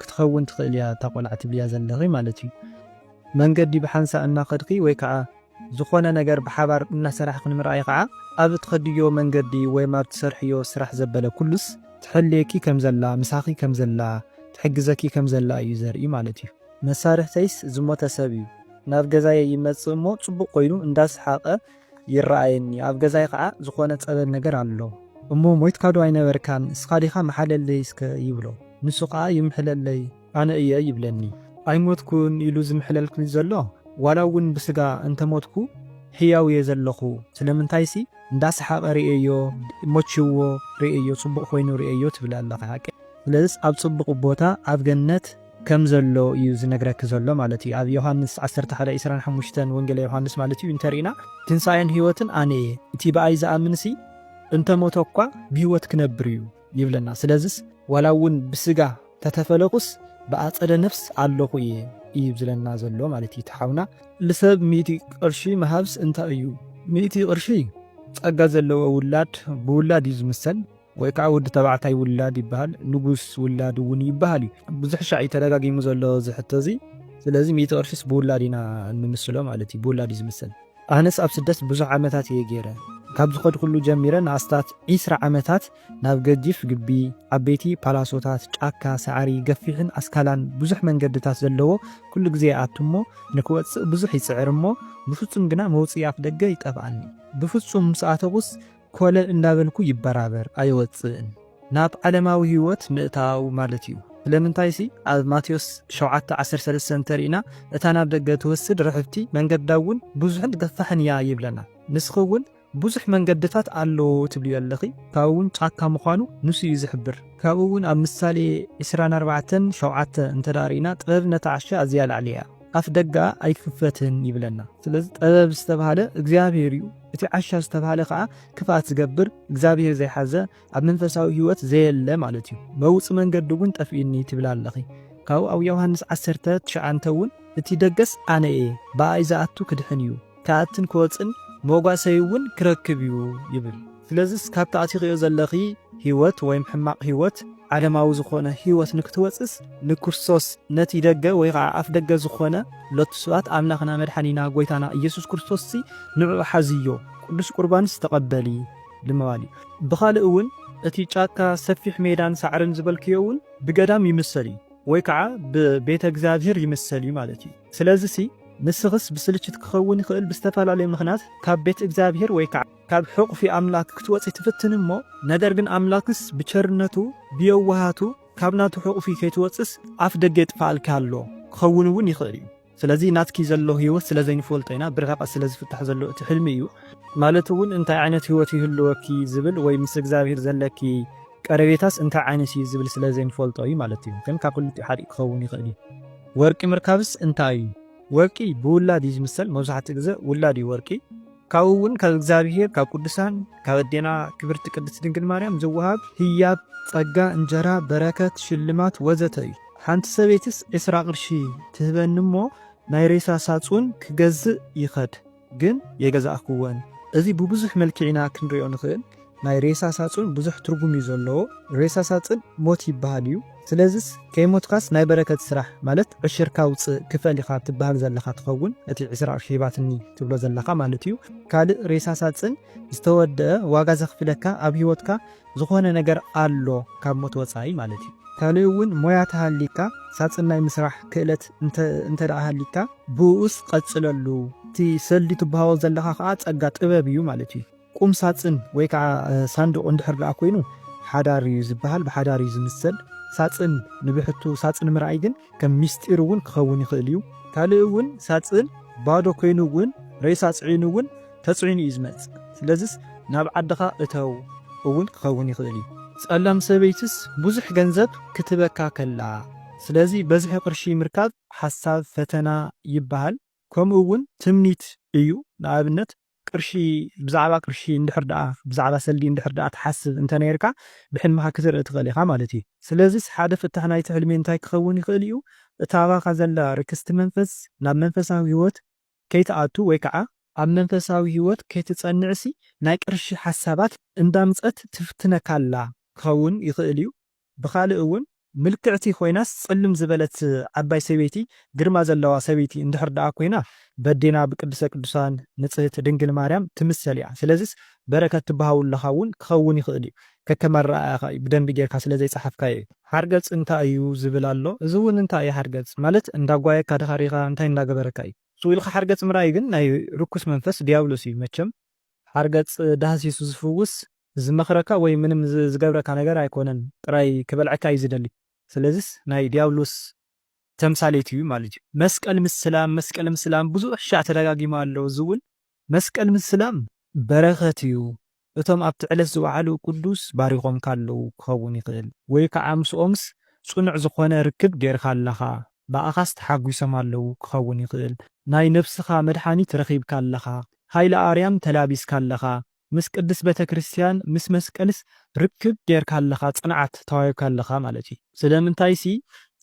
ክትኸውን ትኽእል እያ እታ ቆልዓ ትብልያ ዘለኺ ማለት እዩ። መንገዲ ብሓንሳእ እናኸድኪ ወይ ከዓ ዝኾነ ነገር ብሓባር እናሰራሕኺ ንምርኣይ ከዓ ኣብ እትኸድዮ መንገዲ ወይም ኣብ እትሰርሕዮ ስራሕ ዘበለ ኩሉስ ትሕልየኪ ከም ዘላ ምሳኺ ከም ዘላ ትሕግዘኪ ከም ዘላ እዩ ዘርኢ ማለት እዩ። መሳርሕተይስ ዝሞተ ሰብ እዩ ናብ ገዛየይ ይመፅእ እሞ ፅቡቕ ኮይኑ እንዳሰሓቐ ይረኣየኒ ኣብ ገዛይ ኸኣ ዝኾነ ጸበል ነገር ኣሎ እሞ ሞይትካዶ ኣይነበርካን ንስኻ ዲኻ ምሓለለይ እስከ ይብሎ ንሱ ኸኣ ይምሕለለይ ኣነ እየ ይብለኒ። ኣይሞትኩን ኢሉ ዝምሕለልክኒ ዘሎ ዋላ እውን ብስጋ እንተሞትኩ ሕያው እየ ዘለኹ ስለምንታይሲ እንዳሰሓቐ ርእየዮ ሞቺዎ ርእየዮ ጽቡቕ ኮይኑ ርእየዮ ትብል ኣለኻ ሓቀይ ስለዝስ ኣብ ጽቡቕ ቦታ ኣብ ገነት ከም ዘሎ እዩ ዝነግረኪ ዘሎ ማለት እዩ ኣብ ዮሃንስ ዓሰርተ ሓደ ዕስራን ሓሙሽተን ወንጌለ ዮሃንስ ማለት እዩ እንተሪእና ትንሳኤን ህይወትን ኣነ እየ እቲ ብኣይ ዝኣምንሲ እንተሞተ እኳ ብህይወት ክነብር እዩ ይብለና ስለዝስ ዋላ እውን ብስጋ ተተፈለኩስ ብኣጸደ ነፍስ ኣለኹ እየ እዩ ዝለና ዘሎ ማለት እዩ እቲ ሓውና። ልሰብ ሚእቲ ቅርሺ ምሃብስ እንታይ እዩ? ሚእቲ ቅርሺ ጸጋ ዘለዎ ውላድ ብውላድ እዩ ዝምሰል። ወይ ከዓ ወዲ ተባዕታይ ውላድ ይበሃል፣ ንጉስ ውላድ እውን ይበሃል እዩ። ብዙሕ ሻዕ እዩ ተደጋጊሙ ዘሎ እዚ ሕቶ እዚ። ስለዚ ሚእቲ ቅርሺስ ብውላድ ኢና እንምስሎ ማለት እዩ፣ ብውላድ እዩ ዝምሰል። ኣነስ ኣብ ስደት ብዙሕ ዓመታት እየ ገይረ። ካብ ዝኸድኩሉ ጀሚረ ንኣስታት ዕስራ ዓመታት ናብ ገጂፍ ግቢ፣ ዓበይቲ ፓላሶታት፣ ጫካ፣ ሳዕሪ፣ ገፊሕን ኣስካላን ብዙሕ መንገድታት ዘለዎ ኩሉ ግዜ ይኣቱ እሞ ንክወፅእ ብዙሕ ይፅዕር እሞ ብፍፁም ግና መውፅኢ ኣፍደገ ይጠፍኣኒ። ብፍፁም ምስ ኣተኹስ ኮለል እንዳበልኩ ይበራበር ኣይወጽእን ናብ ዓለማዊ ህይወት ምእታው ማለት እዩ። ስለምንታይሲ ኣብ ማቴዎስ ሸውዓተ ዓሰርተ ሰለስተ እንተሪእና እታ ናብ ደገ ትወስድ ርሕብቲ መንገዳ እውን ብዙሕን ገፋሕን እያ ይብለና። ንስኺ እውን ብዙሕ መንገድታት ኣሎ ትብልዮ ኣለኺ ካብኡ እውን ጫካ ምዃኑ ንሱ እዩ ዝሕብር። ካብኡ እውን ኣብ ምሳሌ ዕስራን ኣርባዕተን ሸውዓተ እንተድኣ ሪእና ጥበብ ነታ ዓሻ ኣዝያ ላዕሊ እያ ኣፍ ደገኣ ኣይክፈትን ይብለና። ስለዚ ጥበብ ዝተብሃለ እግዚኣብሄር እዩ። እቲ ዓሻ ዝተባህለ ከኣ ክፍኣት ዝገብር እግዚኣብሄር ዘይሓዘ ኣብ መንፈሳዊ ህይወት ዘየለ ማለት እዩ። መውጽ መንገዲ እውን ጠፊኡኒ ትብል ኣለኺ። ካብኡ ኣብ ዮውሃንስ ዓሰርተ ትሽዓንተ እውን እቲ ደገስ ኣነ እየ ብኣይ ዝኣቱ ክድሕን እዩ ክኣትን ክወጽእን መጓሰይ እውን ክረክብ እዩ ይብል። ስለዝስ ካብቲ ኣቲኺዮ ዘለኺ ህይወት ወይም ሕማቕ ህይወት ዓለማዊ ዝኾነ ሕይወት ንክትወጽስ ንክርስቶስ ነቲ ደገ ወይ ኸዓ ኣፍ ደገ ዝኾነ ሎቱ ስብሐት ኣምላኽና መድሓኒና ጎይታና እየሱስ ክርስቶስሲ ንዕዑ ሓዝዮ ቅዱስ ቁርባንስ ተቐበሊ ልምባል እዩ። ብኻልእ እውን እቲ ጫካ ሰፊሕ ሜዳን ሳዕርን ዝበልክዮ እውን ብገዳም ይምሰል እዩ ወይ ከዓ ብቤተ እግዚኣብሔር ይምሰል እዩ ማለት እዩ። ስለዝሲ ንስኽስ ብስልችት ክኸውን ይኽእል ብዝተፈላለየ ምኽንያት ካብ ቤት እግዚኣብሔር ወይ ከዓ። ካብ ሕቑፊ ኣምላክ ክትወጺ ትፍትን እሞ ነገር ግን ኣምላክስ ብቸርነቱ ብየዋሃቱ ካብ ናቱ ሕቑፊ ከይትወጽስ ኣፍ ደገ የጥፋኣልኪ ኣሎ ክኸውን እውን ይኽእል እዩ ስለዚ ናትኪ ዘሎ ሂወት ስለ ዘይንፈልጦ ኢና ብርሕቐት ስለ ዝፍታሕ ዘሎ እቲ ሕልሚ እዩ ማለት እውን እንታይ ዓይነት ሂወት ይህልወኪ ዝብል ወይ ምስ እግዚኣብሄር ዘለኪ ቀረቤታስ እንታይ ዓይነት እዩ ዝብል ስለ ዘይንፈልጦ እዩ ማለት እዩ ግን ካብ ክልቲኡ ሓዲኡ ክኸውን ይኽእል እዩ ወርቂ ምርካብስ እንታይ እዩ ወርቂ ብውላድ እዩ ዝምሰል መብዛሕትኡ ግዘ ውላድ እዩ ወርቂ ካብኡ እውን ካብ እግዚኣብሄር ካብ ቅዱሳን ካብ ኣዴና ክብርቲ ቅድስት ድንግል ማርያም ዝወሃብ ህያብ ጸጋ እንጀራ በረከት ሽልማት ወዘተ እዩ ሓንቲ ሰበይትስ ዕስራ ቅርሺ ትህበኒ እሞ ናይ ሬሳ ሳጹን ክገዝእ ይኸድ ግን የገዛእክወን እዚ ብብዙሕ መልክዕ ኢና ክንሪኦ ንኽእል ናይ ሬሳ ሳጹን ብዙሕ ትርጉም እዩ ዘለዎ ሬሳ ሳጽን ሞት ይብሃል እዩ ስለዝስ ከይሞትካስ ናይ በረከት ስራሕ ማለት ዕሽርካ ውጽእ ክፈል ኢካ ትብሃል ዘለካ ትከውን እቲ ዕስራ ቅርሺ ሂባትኒ ትብሎ ዘለካ ማለት እዩ ካልእ ሬሳ ሳጽን ዝተወደኣ ዋጋ ዘክፍለካ ኣብ ሂወትካ ዝኮነ ነገር ኣሎ ካብ ሞት ወጻኢ ማለት እዩ ካልእ ውን ሞያ ተሃሊካ ሳጽን ናይ ምስራሕ ክእለት እንተ ሃሊካ ብኡኡስ ቀጽለሉ እቲ ሰልዲ ትብሃዎ ዘለካ ከኣ ጸጋ ጥበብ እዩ ማለት እዩ። ቁም ሳጽን ወይ ከኣ ሳንዱቕ እንድሕር ደኣ ኮይኑ ሓዳር እዩ ዝበሃል ብሓዳር እዩ ዝምሰል። ሳጽን ንብሕቱ ሳጽን ምርኣይ ግን ከም ምስጢር እውን ክኸውን ይኽእል እዩ። ካልእ እውን ሳጽን ባዶ ኮይኑ እውን ሬሳ ጽዒኑ እውን ተጽዒኑ እዩ ዝመጽእ ስለዝስ ናብ ዓድኻ እተው እውን ክኸውን ይኽእል እዩ። ጸላም ሰበይትስ ብዙሕ ገንዘብ ክትህበካ ከላ ስለዚ በዝሒ ቅርሺ ምርካብ ሓሳብ ፈተና ይበሃል ከምኡ እውን ትምኒት እዩ ንኣብነት ቅርሺ ብዛዕባ ቅርሺ እንድሕር ደኣ ብዛዕባ ሰልዲ እንድሕር ደኣ ትሓስብ እንተ ነይርካ ብሕልምኻ ክትርኢ ትኽእል ኢኻ ማለት እዩ። ስለዚስ ሓደ ፍታሕ ናይቲ ሕልሚ እንታይ ክኸውን ይኽእል እዩ? እታ ኣባኻ ዘላ ርክስቲ መንፈስ ናብ መንፈሳዊ ህይወት ከይትኣቱ ወይ ከኣ፣ ኣብ መንፈሳዊ ህይወት ከይትጸንዕሲ ናይ ቅርሺ ሓሳባት እንዳምጸት ትፍትነካ ኣላ ክኸውን ይኽእል እዩ። ብኻልእ እውን ምልክዕቲ ኮይናስ ጽልም ዝበለት ዓባይ ሰበይቲ ግርማ ዘለዋ ሰበይቲ እንድሕር ደኣ ኮይና በዴና ብቅድስተ ቅዱሳን ንጽህት ድንግል ማርያም ትምሰል እያ ስለዝስ በረከት ትበሃውለኻ እውን ክኸውን ይኽእል እዩ ከከም ኣረኣእያኻ እዩ ብደንቢ ጌርካ ስለ ዘይጸሓፍካዮ እዩ። ሓርገጽ እንታይ እዩ ዝብል ኣሎ እዚ እውን እንታይ እዩ ሓርገጽ ማለት እንዳ ኣጓየካ ድካ ሪኢካ እንታይ እንዳ ገበረካ እዩ። ስኡ ኢልካ ሓርገጽ ምርኣይ ግን ናይ ርኩስ መንፈስ ድያብሎስ እዩ መቸም ሓርገጽ ዳህሲሱ ዝፍውስ ዝመኽረካ ወይ ምንም ዝገብረካ ነገር ኣይኮነን ጥራይ ክበልዐካ እዩ ዝደሊ ስለዚስ ናይ ድያብሎስ ተምሳሌት እዩ ማለት እዩ። መስቀል ምስላም መስቀል ምስላም ብዙሕ ሻዕ ተደጋጊሙ ኣሎ እዚ ውን መስቀል ምስላም በረኸት እዩ እቶም ኣብቲ ዕለት ዝወዓሉ ቅዱስ ባሪኾምካ ኣለዉ ክኸውን ይኽእል ወይ ከዓ ምስኦምስ ጽኑዕ ዝኾነ ርክብ ጌርካ ኣለኻ ብኣኻስ ተሓጒሶም ኣለዉ ክኸውን ይኽእል ናይ ነብስኻ መድሓኒት ረኺብካ ኣለኻ ሃይለ ኣርያም ተላቢስካ ኣለኻ ምስ ቅድስ በተክርስትያን ምስ መስቀልስ ርክብ ገርካ ኣለኻ ጽንዓት ተዋሂብካ ኣለኻ ማለት እዩ ስለምንታይሲ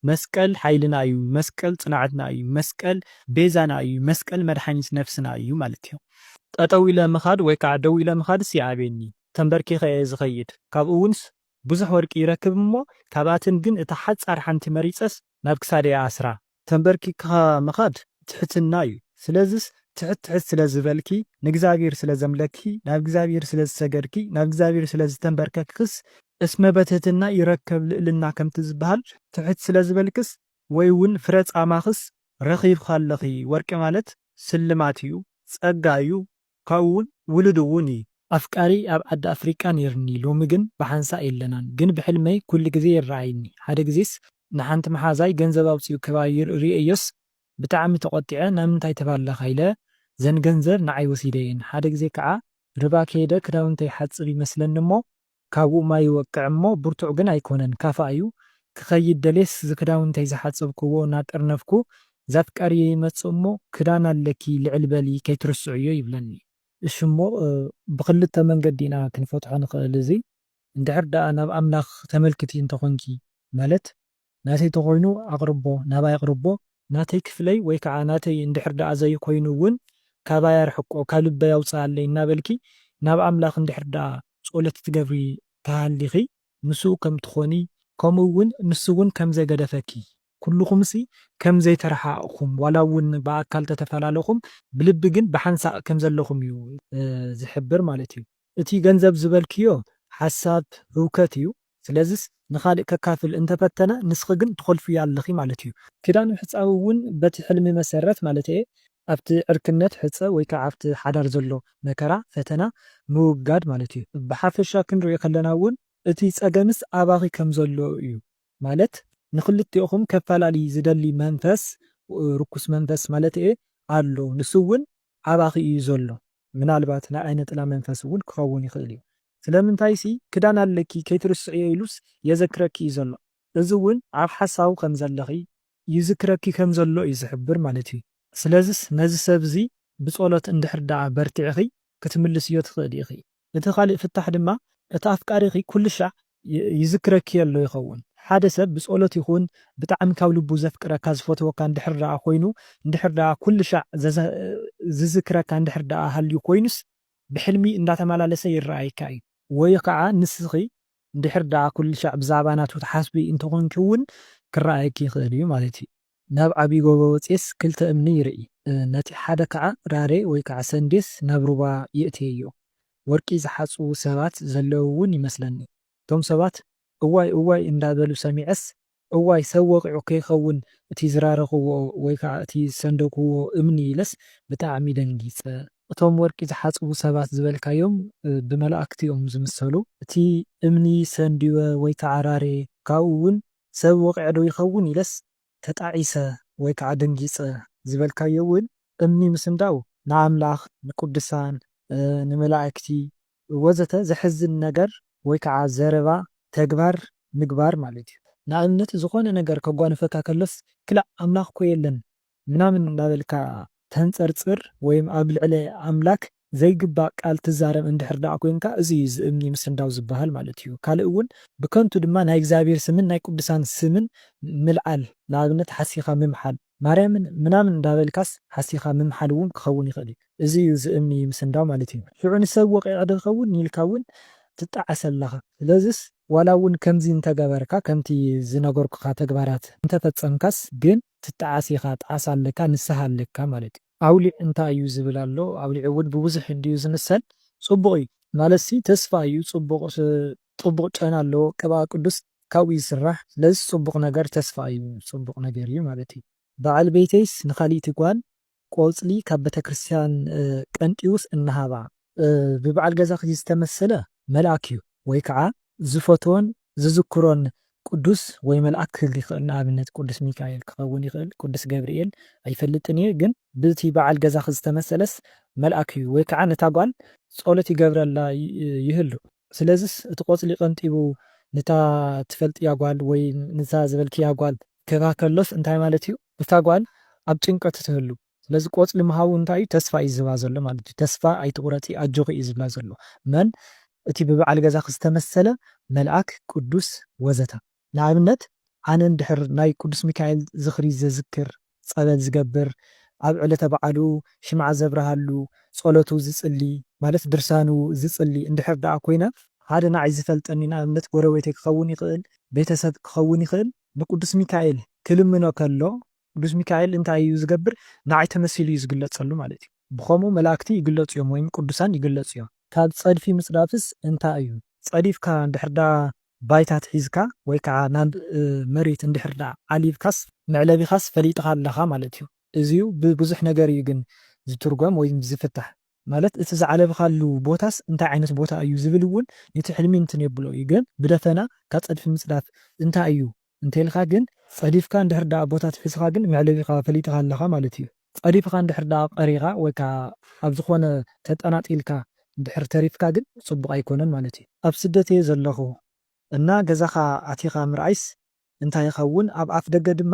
መስቀል ሓይልና እዩ መስቀል ጽንዓትና እዩ መስቀል ቤዛና እዩ መስቀል መድሓኒት ነፍስና እዩ ማለት እዩ ጠጠው ኢለ ምኻድ ወይ ካዓ ደው ኢለ ምኻድስ ይኣብየኒ ተምበርኪኸ እየ ዝኸይድ ካብኡ እውንስ ብዙሕ ወርቂ ይረክብ እሞ ካብኣተን ግን እታ ሓጻር ሓንቲ መሪጸስ ናብ ክሳደይ ኣስራ። ተምበርኪክኻ ምኻድ ትሕትና እዩ ስለዝስ ትሕት ትሕት ስለ ዝበልኪ ንእግዚኣብሄር ስለ ዘምለክኪ ናብ እግዚኣብሄር ስለ ዝሰገድኪ ናብ እግዚኣብሄር ስለ ዝተምበርከክክስ እስመ በትህትና ይረከብ ልእልና ከምቲ ዝበሃል ትሕት ስለ ዝበልክስ ወይ ውን ፍረ ጻማኽስ ረኺብኺ ኣለኺ ወርቂ ማለት ስልማት እዩ ጸጋ እዩ ካብኡ ውን ውሉድ ውን እዪ። ኣፍቃሪይ ኣብ ዓዲ ኣፍሪቃ ነይርኒ ሎሚ ግን ብሓንሳእ የለናን ግን ብሕልመይ ኩሉ ግዜ ይረኣይኒ ሓደ ግዜስ ንሓንቲ መሓዛይ ገንዘብ ኣውጺኡ ከባይር ሪኤዮስ ብጣዕሚ ተቆጢዐ ናምንታይ ተባላካ ኢለ ዘን ገንዘብ ንዓይ ወሲደየን ሓደ ግዜ ክዓ ርባ ከይደ ክዳውንተይ ሓጽብ ይመስለኒ እሞ ካብኡ ማይ ይወቅዕ እሞ ብርቱዕ ግን ኣይኮነን ካፋ እዩ ክኸይድ ደልየስ ዝክዳውንተይ ዝሓጸብክዎ ናጠርነፍኩ ዛፍቃሪየይ ይመጽእ እሞ ክዳን ኣለኪ ልዕል በሊ ከይትርስዕዮ ይብለኒ። እሺ እሞ ብክልተ መንገዲ ኢና ክንፈትሖ ንክእል እዚ እንድሕር ደኣ ናብ ኣምላክ ተመልክቲ እንተኮንኪ ማለት ናተይ ተኾይኑ ኣቕርቦ ናባይ ኣቕርቦ። ናተይ ክፍለይ ወይ ከዓ ናተይ እንድሕር ድኣ ዘይኮይኑ እውን ካባይ ኣርሕቆ ካብ ልበይ ኣውፅኣለይ እናበልኪ ናብ ኣምላኽ እንድሕር ድኣ ፀሎት ትገብሪ ተሃሊኺ ምስኡ ከም ትኾኒ ከምኡ እውን ንሱ እውን ከም ዘይገደፈኪ ኩሉኹምሲ ከም ዘይተረሓቕኹም ዋላ እውን ብኣካል ተተፈላለኹም ብልቢ ግን ብሓንሳእ ከም ዘለኹም እዩ ዝሕብር ማለት እዩ። እቲ ገንዘብ ዝበልክዮ ሓሳብ ህውከት እዩ ስለዝስ ንኻልእ ከካፍል እንተፈተነ ንስኺ ግን ትኾልፍዮ ኣለኺ ማለት እዩ። ክዳን ምሕጻብ እውን በቲ ሕልሚ መሰረት ማለተየ ኣብቲ ዕርክነት ሕጸ ወይ ከኣ ኣብቲ ሓዳር ዘሎ መከራ፣ ፈተና፣ ምውጋድ ማለት እዩ። ብሓፈሻ ክንሪኦ ከለና እውን እቲ ጸገምስ ኣባኺ ከምዘሎ እዩ ማለት ንኽልቴኹም ከፈላሊ ዝደሊ መንፈስ፣ ርኩስ መንፈስ ማለተየ፣ ኣሎ ንሱ እውን ኣባኺ እዩ ዘሎ ምናልባት ናይ ዓይነ ጥላ መንፈስ እውን ክኸውን ይኽእል እዩ ስለምንታይሲ ክዳን ኣለኪ ከይትርስዕዮ ኢሉስ የዘክረኪ እዩ ዘሎ እዚ እውን ኣብ ሓሳቡ ከምዘለኺ ይዝክረኪ ከምዘሎ እዩ ዝሕብር ማለት እዩ ስለዝስ ነዚ ሰብ እዚ ብጸሎት እንድሕር ደኣ በርቲዕኺ ክትምልስዮ ትኽእሊ ኢኺ እቲ ኻልእ ፍታሕ ድማ፣ እቲ ኣፍቃሪኺ ኵሉ ሻዕ ይዝክረኪ ኣሎ ይኸውን። ሓደ ሰብ ብጸሎት ይኹን ብጣዕሚ ካብ ልቡ ዘፍቅረካ ዝፈትወካ እንድሕር ደኣ ኾይኑ፣ እንድሕር ደኣ ኵሉ ሻዕ ዝዝክረካ እንድሕር ደኣ ሃልዩ ኾይኑስ፣ ብሕልሚ እንዳተመላለሰ ይረኣየካ እዩ። ወይ ኸዓ ንስኺ እንድሕር ደኣ ኵሉ ሻዕ ብዛዕባ ናቱ ትሓስቢ እንተኾንኪ እውን ክረኣየኪ ይኽእል እዩ ማለት እዩ። ናብ ዓብዪ ጎቦ ወጺኤስ ክልተ እምኒ ይርኢ፣ ነቲ ሓደ ኸዓ ራሬ ወይ ከዓ ሰንዴስ ናብ ሩባ የእትየዮ። ወርቂ ዝሓጽቡ ሰባት ዘለዉ እውን ይመስለኒ። እቶም ሰባት እዋይ እዋይ እንዳበሉ ሰሚዐስ፣ እዋይ ሰብ ወቒዑ ከይኸውን እቲ ዝራረኽዎ ወይ ከዓ እቲ ዝሰንደግዎ እምኒ ኢለስ ብጣዕሚ ደንጊፀ። እቶም ወርቂ ዝሓጽቡ ሰባት ዝበልካዮም ብመላእኽቲ እዮም ዝምሰሉ። እቲ እምኒ ሰንዲወ ወይ ከዓ ራሬ ካብኡ እውን ሰብ ወቒዐ ዶ ይኸውን ኢለስ ተጣዒሰ ወይ ከኣ ደንጊጸ ዝበልካዮ እውን እምኒ ምስንዳው ንኣምላኽ፣ ንቅዱሳን፣ ንመላእክቲ ወዘተ ዘሕዝን ነገር ወይ ከኣ ዘረባ፣ ተግባር፣ ምግባር ማለት እዩ። ንኣብነት ዝኾነ ነገር ከጓንፈካ ከሎስ ክላእ ኣምላኽኮ የለን ምናምን እንዳበልካ ተንጸርጽር ወይም ኣብ ልዕሊ ኣምላክ ዘይግባእ ቃል ትዛረብ እንድሕር ደኣ ኮንካ እዚ እዩ እዚ እምኒ ምስንዳው ዝበሃል ማለት እዩ ካልእ እውን ብከንቱ ድማ ናይ እግዚኣብሔር ስምን ናይ ቅዱሳን ስምን ምልዓል ንኣብነት ሓሲካ ምምሓል ማርያምን ምናምን እንዳበልካስ ሓሲካ ምምሓል እውን ክከውን ይክእል እዩ እዚ እዩ እዚ እምኒ ምስንዳው ማለት እዩ ሽዑ ንሰብ ወቂዒ ዶ ይከውን ኢልካ እውን ትጣዓስ ኣለካ ስለዝስ ዋላ እውን ከምዚ እንተገበርካ ከምቲ ዝነገርኩካ ተግባራት እንተፈጸምካስ ግን ትጣዓስ ኢኻ ጣዕሳ ኣለካ ንስሃ ኣለካ ማለት እዩ። ኣውሊዕ እንታይ እዩ ዝብል ኣሎ ኣውሊዕ እውን ብብዙሕ እንድዩ ዝምሰል ጽቡቅ እዩ ማለትሲ ተስፋ እዩ ጽቡቅ ጽቡቅ ጨና ኣለዎ ቅብኣ ቅዱስ ካብኡ ይስራሕ ስለዝስ ጽቡቅ ነገር ተስፋ እዩ ጽቡቅ ነገር እዩ ማለት እዩ በዓል ቤተይስ ንካሊእቲ ጓል ቆጽሊ ካብ ቤተክርስትያን ቀንጢውስ እናሃባ። ብበዓል ገዛኺ ዝተመሰለ መልኣክ እዩ ወይ ከዓ ዝፈትዎን ዝዝክሮን ቅዱስ ወይ መልኣክ ክህሉ ይኽእል ንኣብነት ቅዱስ ሚካኤል ክኸውን ይኽእል ቅዱስ ገብርኤል ኣይፈልጥን እየ ግን ብቲ በዓል ገዛኺ ዝተመሰለስ መልኣክ እዩ ወይ ከዓ ነታ ጓል ጸሎት ይገብረላ ይህሉ ስለዝስ እቲ ቆጽሊ ቀንጢቡ ንታ ትፈልጥያ ጓል ወይ ንታ ዝበልክያ ጓል ክህባ ከሎስ እንታይ ማለት እዩ እታ ጓል ኣብ ጭንቀት ትህሉ ስለዚ ቆጽሊ ምሃቡ እንታይ እዩ ተስፋ እዩ ዝህባ ዘሎ ማለት እዩ ተስፋ ኣይትቁረጺ ኣጆኺ እዩ ዝብላ ዘሎ መን እቲ ብበዓል ገዛኺ ዝተመሰለ መልኣክ ቅዱስ ወዘተ። ንኣብነት ኣነ እንድሕር ናይ ቅዱስ ሚካኤል ዝኽሪ ዘዝክር፣ ጸበል ዝገብር፣ ኣብ ዕለተ በዓሉ ሽምዓ ዘብርሃሉ፣ ጸሎቱ ዝጽሊ፣ ማለት ድርሳኑ ዝጽሊ እንድሕር ደኣ ኮይነ፣ ሓደ ንዓይ ዝፈልጠኒ ንኣብነት ጎረቤተይ ክኸውን ይኽእል፣ ቤተሰብ ክኸውን ይኽእል፣ ንቅዱስ ሚካኤል ክልምኖ ከሎ ቅዱስ ሚካኤል እንታይ እዩ ዝገብር ንዓይ ተመሲሉ እዩ ዝግለጸሉ ማለት እዩ። ብኸምኡ መላእክቲ ይግለጹ እዮም ወይም ቅዱሳን ይግለጹ እዮም። ካብ ጸድፊ ምጽዳፍስ እንታይ እዩ? ጸዲፍካ እንድሕር ደኣ ባይታ ኣትሒዝካ ወይ ከኣ ናብ መሬት እንድሕር ደኣ ዓሊብካስ መዕለቢኻስ ፈሊጥኻ ኣለኻ ማለት'ዩ። እዚዩ ብብዙሕ ነገር እዩ ግን ዝትርጎም ወይ ዝፍታሕ። ማለት እቲ ዝዓለብካሉ ቦታስ እንታይ ዓይነት ቦታ እዩ ዝብል እውን ንቲ ሕልሚ እንትን የብሎ እዩ። ግን ብደፈና ካብ ጸድፊ ምጽዳፍ እንታይ እዩ እንተኢልካ ግን ጸዲፍካ እንድሕር ደኣ ቦታ ትሒዝኻ ግን መዕለቢኻ ፈሊጥኻ ኣለኻ ማለት እዩ። ጸዲፍኻ እንድሕር ደኣ ቀሪኻ ወይ ከኣ ኣብ ዝኾነ ተጠናጢልካ እንድሕር ተሪፍካ ግን ጽቡቕ ኣይኮነን ማለት እዩ። ኣብ ስደት እየ ዘለኹ እና ገዛኻ ኣቲኻ ምርኣይስ እንታይ ይኸውን ኣብ ኣፍደገ ድማ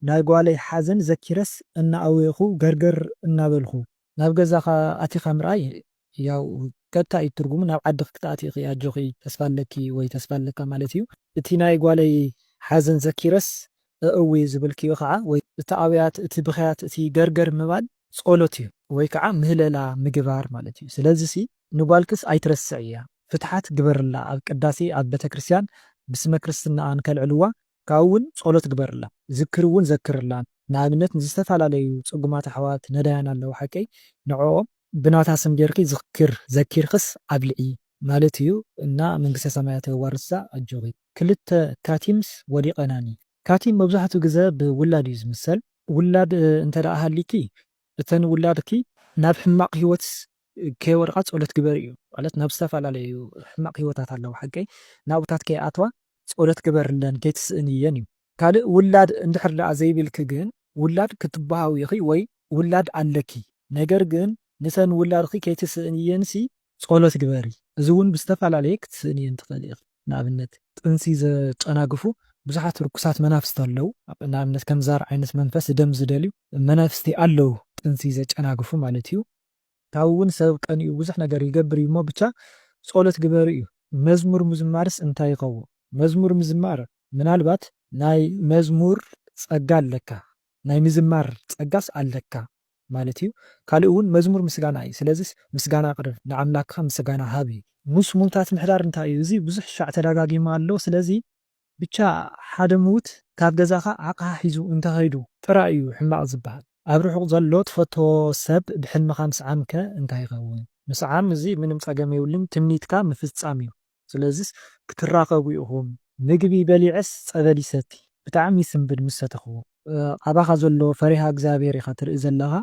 ናይ ጓለይ ሓዘን ዘኪረስ እናኣወኹ ገርገር እናበልኩ ናብ ገዛኻ ኣቲኻ ምርኣይ ያው ቀጥታ እዩ ትርጉሙ ናብ ዓድኺ ክትኣትይ ኢኺ ኣጆኺ ተስፋ ኣለኪ ወይ ተስፋ ኣለካ ማለት እዩ። እቲ ናይ ጓለይ ሓዘን ዘኪረስ እእዊ ዝበልክዮ ከዓ ወይ እቲ ኣውያት እቲ ብኽያት እቲ ገርገር ምባል ፆሎት እዩ ወይ ከዓ ምህለላ ምግባር ማለት እዩ ስለዚሲ ንጓልክስ ኣይትረስዕያ ፍትሓት ግበርላ ኣብ ቅዳሴ ኣብ ቤተክርስትያን ብስመ ክርስትናኣ ንከልዕልዋ ካብኡ ውን ጸሎት ግበርላ ዝክሪ ውን ዘክርላን ንኣብነት ንዝተፋላለዩ ጽጉማት ኣሕዋት ነዳያን ኣለዉ ሓቀይ ንዕኦም ብናታ ስም ገርኪ ዝክር ዘኪርክስ ኣብልዒ ማለት እዩ እና መንግስተ ሰማያት የዋርስካ ኣጆኺ። ክልተ ካቲምስ ወዲቀናኒ። ካቲም መብዛሕትኡ ግዘ ብ ውላድ እዩ ዝምሰል። ውላድ እንተ ሃሊኪ እተን ውላድኪ ናብ ሕማቅ ሂወት ከይወድቃ ጸሎት ግበሪ እዩ ማለት ናብ ዝተፈላለዩ ሕማቅ ሂወታት ኣለዋ ሓቀይ ናብኡታት ከይኣትዋ ጸሎት ግበርለን ከይትስእንየን እዩ ካልእ ውላድ እንድሕር ደኣ ዘይብልኪ ግን ውላድ ክትበሃዊ ኢኺ ወይ ውላድ ኣለኪ ነገር ግን ንተን ውላድኪ ከይትስእንየን ሲ ጸሎት ግበሪ እዚ ውን ብዝተፈላለየ ክትስእንየን ትኽእሊ ኢኺ ንኣብነት። ጥንሲ ዘጨናግፉ ብዙሓት ርኩሳት መናፍስቲ ኣለው ንኣብነት ከም ዛር ዓይነት መንፈስ ደም ዝደልዩ መናፍስቲ ኣለው ጥንሲ ዘጨናግፉ ማለት እዩ ካብኡ ውን ሰብ ቀኒኡ ብዙሕ ነገር ይገብር እዩ እሞ ብቻ ፆሎት ግበሩ እዩ። መዝሙር ምዝማርስ እንታይ ይከውን? መዝሙር ምዝማር ምናልባት ናይ መዝሙር ጸጋ ኣለካ ናይ ምዝማር ጸጋስ ኣለካ ማለት እዩ ካልእ ውን መዝሙር ምስጋና እዩ ስለዚስ ምስጋና ኣቅርብ ንኣምላክካ ምስጋና ሃብ እዩ። ምስ ሙውታት ምሕዳር እንታይ እዩ እዚ ብዙሕ ሻዕ ተዳጋጊሙ ኣሎ ስለዚ። ብቻ ሓደ ምዉት ካብ ገዛኻ ዓቕሓ ሒዙ እንተኸይዱ ጥራይ እዩ ሕማቕ ዝበሃል። ኣብ ርሑቕ ዘሎ ትፈትዎ ሰብ ብሕልምኻ ምስዓም ከ እንታይ ይኸውን? ምስዓም እዚ ምንም ጸገም የብሉን ትምኒትካ ምፍጻም እዩ። ስለዚስ ክትራኸቡ ኢኹም። ምግቢ በሊዐስ ጸበል ይሰቲ ብጣዕሚ ስምብል ምስ ሰተኽዎ። ኣባኻ ዘሎ ፈሪሃ እግዚኣብሄር ኢኻ ትርኢ ዘለኻ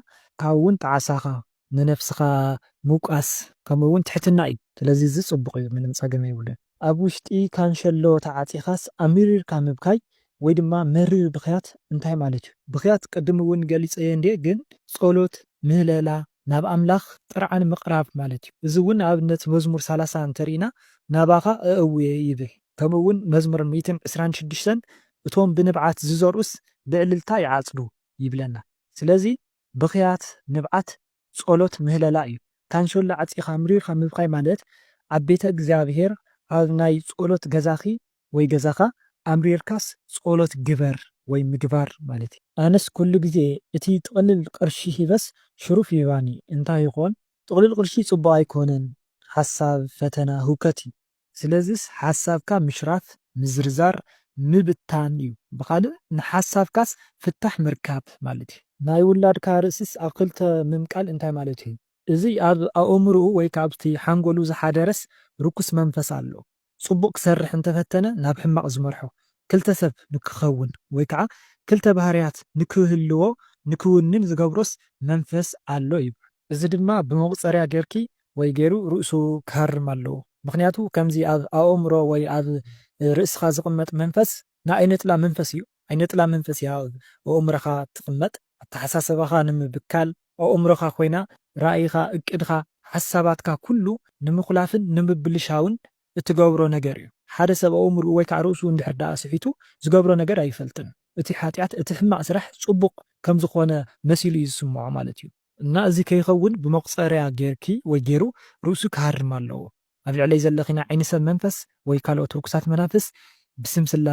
ካብኡ ውን ጣዕሳኻ ንነፍስኻ ምውቃስ ከምኡ ውን ትሕትና እዩ ስለዚ እዚ ጽቡቕ እዩ ምንም ጸገም የብሉን። ኣብ ውሽጢ ካንሸሎ ተዓጺኻስ ኣሚሪርካ ምብካይ ወይ ድማ መሪር ብኽያት እንታይ ማለት እዩ? ብኽያት ቅድም ውን ገሊጸዮ እንድየ ግን ጸሎት፣ ምህለላ፣ ናብ ኣምላኽ ጥርዓን ምቕራብ ማለት እዩ። እዚ ውን ንኣብነት መዝሙር ሰላሳ እንተሪኢና ናባኻ እእውየ ይብል ከምኡ ውን መዝሙር ሚእትን ዕስራን ሽዱሽተን እቶም ብንብዓት ዝዘርኡስ ብዕልልታ ይዓጽዱ ይብለና ስለዚ ብኽያት፣ ንብዓት፣ ጸሎት፣ ምህለላ እዩ። ካንሸሎ ዓጺኻ ኣምሪርካ ምብካይ ማለት ኣብ ቤተ እግዚኣብሔር ኣብ ናይ ጸሎት ገዛኺ ወይ ገዛኻ ኣምሪርካስ ጸሎት ግበር ወይ ምግባር ማለት እዩ። ኣነስ ኩሉ ግዜ እቲ ጥቅልል ቅርሺ ሂበስ ሽሩፍ ይህባኒ እንታይ ይኾን? ጥቅልል ቅርሺ ጽቡቅ ኣይኮነን ሓሳብ ፈተና ህውከት እዩ። ስለዚስ ሓሳብካ ምሽራፍ፣ ምዝርዛር፣ ምብታን እዩ። ብኻልእ ንሓሳብካስ ፍታሕ ምርካብ ማለት እዩ። ናይ ውላድካ ርእሲስ ኣብ ክልተ ምምቃል እንታይ ማለት እዩ? እዚ ኣብ ኣእምርኡ ወይ ከኣ ኣብቲ ሓንጎሉ ዝሓደረስ ርኩስ መንፈስ ኣሎ። ጽቡቕ ክሰርሕ እንተፈተነ ናብ ሕማቕ ዝመርሖ፣ ክልተ ሰብ ንክኸውን ወይ ከኣ ክልተ ባህርያት ንክህልዎ ንክውንን ዝገብሮስ መንፈስ ኣሎ ይብሉ። እዚ ድማ ብመቁጸርያ ጌርኪ ወይ ጌሩ ርእሱ ክሃርም ኣለዎ ምክንያቱ ከምዚ ኣብ ኣኦምሮ ወይ ኣብ ርእስካ ዝቅመጥ መንፈስ ንኣይነጥላ መንፈስ እዩ ኣይነጥላ መንፈስ እያ ኣብ ኦኦምረካ ትቅመጥ ኣታሓሳሰባካ ንምብካል ኦኦምሮካ ኮይና ራኢካ እቅድካ ሓሳባትካ ኩሉ ንምኩላፍን ንምብልሻውን እትገብሮ ነገር እዩ ሓደ ሰብ ኣኦምርኡ ወይ ካዓ ርእሱ እንድሕር ዳኣ ስሒቱ ዝገብሮ ነገር ኣይፈልጥን እቲ ሓጥያት እቲ ሕማቅ ስራሕ ጽቡቅ ከምዝኮነ መሲሉ እዩ ዝስምዖ ማለት እዩ። እና እዚ ከይኸውን ብመቁጸርያ ጌርኪ ወይ ጌሩ ርእሱ ክሃርም ኣለዎ ኣብ ልዕለይ ዘለኺ ናይ ዓይኒ ሰብ መንፈስ ወይ ካልኦት ርኩሳት መናፍስ ብስም ስላሴ